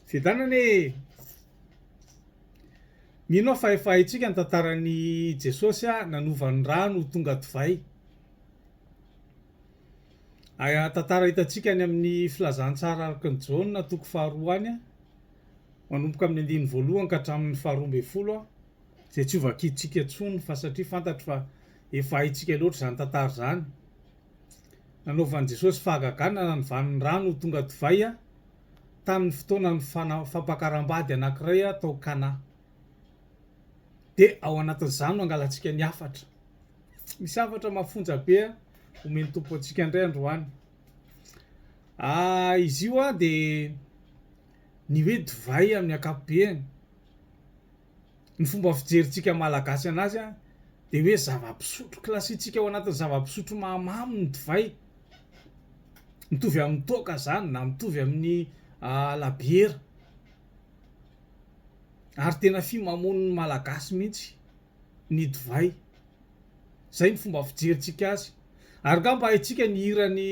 Fiadanana e! Mino aho fa efa haintsika ny tantaran'i Jesosy nanova ny rano ho tonga divay. Aya tantara hitantsika any amin'ny filazantsara araka ny Jaona toko faharoa any, manomboka amin'ny andininy voalohany ka hatramin'ny faharoa ambin'ny folo, izay tsy ho vakintsika intsony fa satria fantatro fa efa haintsika loatra izany tantara izany. Nanaovan'i Jesosy fahagagana ny vanindrano ho tonga divay tamin'ny fotoanan'ny fampakaram-bady anankiray tao Kana. Dia ao anatin'izany no hangalantsika ny hafatra. Misy hafatra mafonja be omen'ny Tompo antsika indray androany. Ah, izy io dia ny hoe divay amin'ny ankapobeny. ny fomba fijerintsika Malagasy anazy an, dia hoe zava-pisotro, classitsika ao anatin'ny zava-pisotro mahamamo ny divay, mitovy amin'ny toaka izany na mitovy amin'ny labiera, ary tena fimamoan'ny Malagasy mihitsy ny divay, izay ny fomba fijerintsika azy, ary nga mba haintsika ny hiran'ny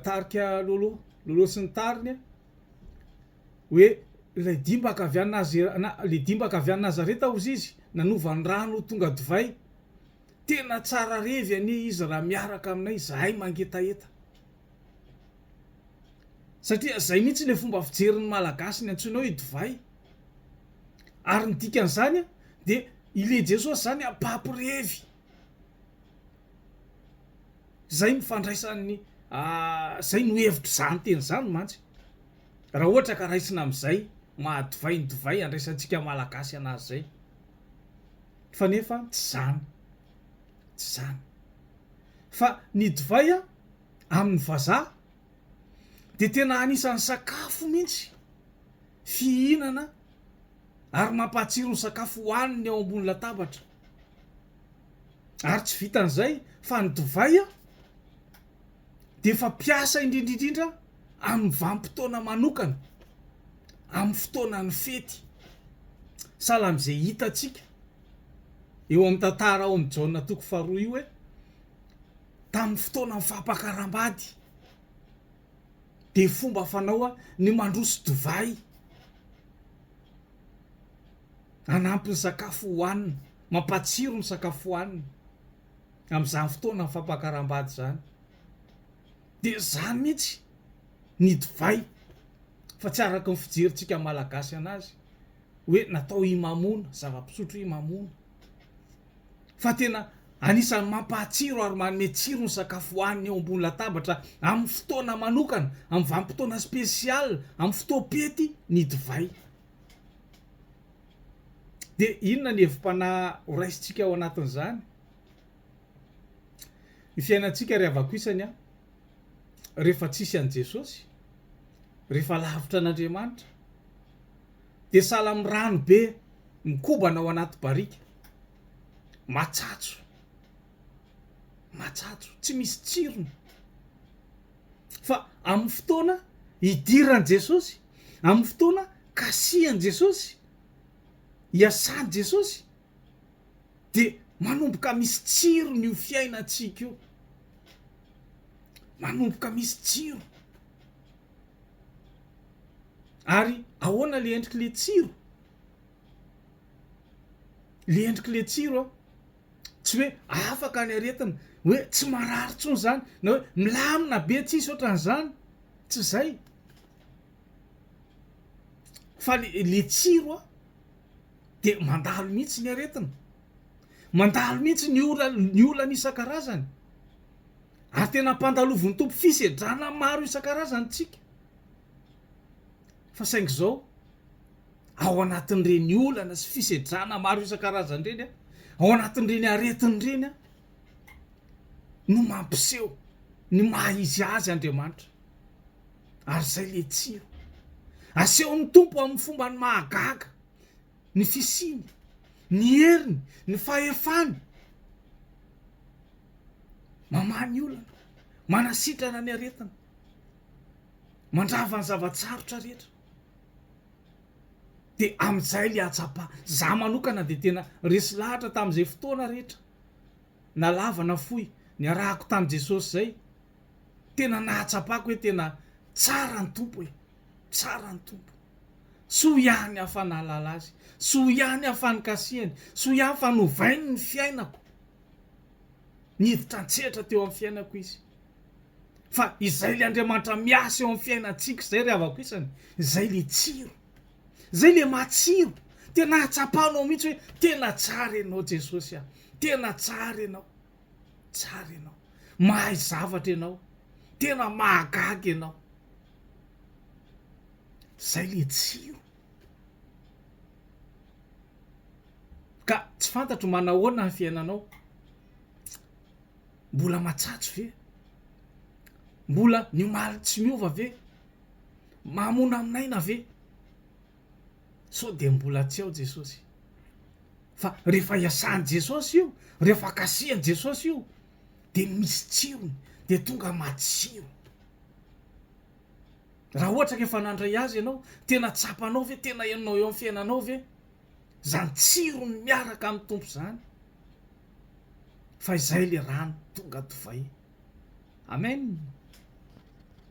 tarika Lolo, Lolo sy ny tariny an. Hoe, Ilay dimbaka avy any Nazera, ilay dimbaka avy any Nazareta hozy izy, nanova ny rano ho tonga divay. Tena tsara revy anie izy raha miaraka aminay izahay mangetaheta. Satria izay mihitsy ilay fomba fijerin'ny Malagasy ny antsoina hoe divay. Ary ny dikan'izany dia ilay Jesosy izany mpampirevy. Izay no fandraisan'ny, izay no hevitr'izany teny izany mantsy. Raha ohatra ka raisina amin'izay maha divay ny divay andraisantsika Malagasy an'azy izay. Fa nefa tsy izany. Tsy izany. Fa ny divay amin'ny vazaha dia tena anisan'ny sakafo mihitsy fihinana ary mampahatsiro ny sakafo hohaniny eo ambony latabatra. Ary tsy vitan'izay fa ny divay dia fampiasa indrindra indrindra amin'ny vanim-potoana manokana, amin'ny fotoanan'ny fety. Sahala amin'izay hitantsika eo amin'ny tantara ao amin'ny Jaona toko faharoa io hoe tamin'ny fotoanan'ny fampakaram-bady dia fomba fanao ny mandroso divay hanampy ny sakafo hohanina, mampatsiro ny sakafo hohanina amin'izany fotoanan'ny fampakaram-bady izany. Dia zany mihitsy ny divay fa tsy araka ny fijerintsika malagasy anazy hoe natao himamoana, zava-pisotro himamoana fa tena anisan'ny mampahatsiro ary manome tsiro ny sakafo hohanina eo ambony latabatra amin'ny fotoana manokana, amin'ny vanim-potoana spécial, amin'ny fotoam-pety ny divay. Dia inona ny hevi-panahy horaisintsika ao anatin'izany? Ny fiainantsika ry havako isany an, rehefa tsisy an'i Jesosy, rehefa lavitra an'Andriamanitra, dia sahala amin'ny rano be mikobana ao anaty barika, matsatso, matsatso, tsy misy tsirony. Fa amin'ny fotoana hidiran'i Jesosy, amin'ny fotoana kasihan'i Jesosy, hiasan'i Jesosy, dia manomboka misy tsirony io fiainantsika io, manomboka misy tsiro. Ary ahoana le endriky le tsiro? Le endriky le tsiro a, tsy hoe afaka ny aretina, hoe tsy marary intsony zany, na hoe milamina be tsisy ohatran'izany, tsy zay. Fa le le tsiro a. dia mandalo mihitsy ny aretina, mandalo mihitsy ny olana, ny olana isan-karazany. Ary tena ampandalovin'ny tompo fisedrana maro isan-karazany tsika. Fa saingy izao, ao anatin'ireny olana sy fisedrana maro isan-karazany ireny a, ao anatin'ireny aretina ireny a, no mampiseho ny maha izy azy Andriamanitra. Ary izay ilay tsiro. Asehon'ny Tompo amin'ny fombany mahagaga ny fisiany, ny heriny, ny fahefany. Mamaha ny olana, manasitrana ny aretina, mandrava ny zava-tsarotra rehetra. Dia amin'izay ilay hatsapa. Za manokana dia tena resy lahatra tamin'izay fotoana rehetra, na lava na fohy, niarahako tamin'i Jesosy izay. tena nahatsapako hoe tena tsara ny Tompo e! tsara ny Tompo! soa ihany aho fa nahalala Azy, soa ihany aho fa nikasihany, soa ihany fa novainy ny fiainako, niditra an-tsehatra teo amin'ny fiainako Izy, fa izay le Andriamanitra miasa eo amin'ny fiainantsika izay ry havako isany, izay le tsiro, izay le matsiro, tena ahatsapanao mihitsy hoe tena tsara ianao Jesosy a! tena tsara ianao. Tsara ianao. Mahay zavatra ianao. Tena mahagaga ianao. Zay le tsiro. Ka tsy fantatro manahoana ny fiainanao. Mbola matsatso ve? Mbola ny omaly tsy miova ve? Mamono amin'aina ve? sao dia mbola tsy ao Jesosy fa rehefa iasan'i Jesosy io rehefa kasihan'i Jesosy io dia misy tsirony dia tonga matsiro raha ohatra ka efa nandray azy ianao tena tsapanao ve tena henonao eo amin'ny fiainanao ve zany tsirony miaraka amin'ny tompo zany fa izay le rano tonga divay amen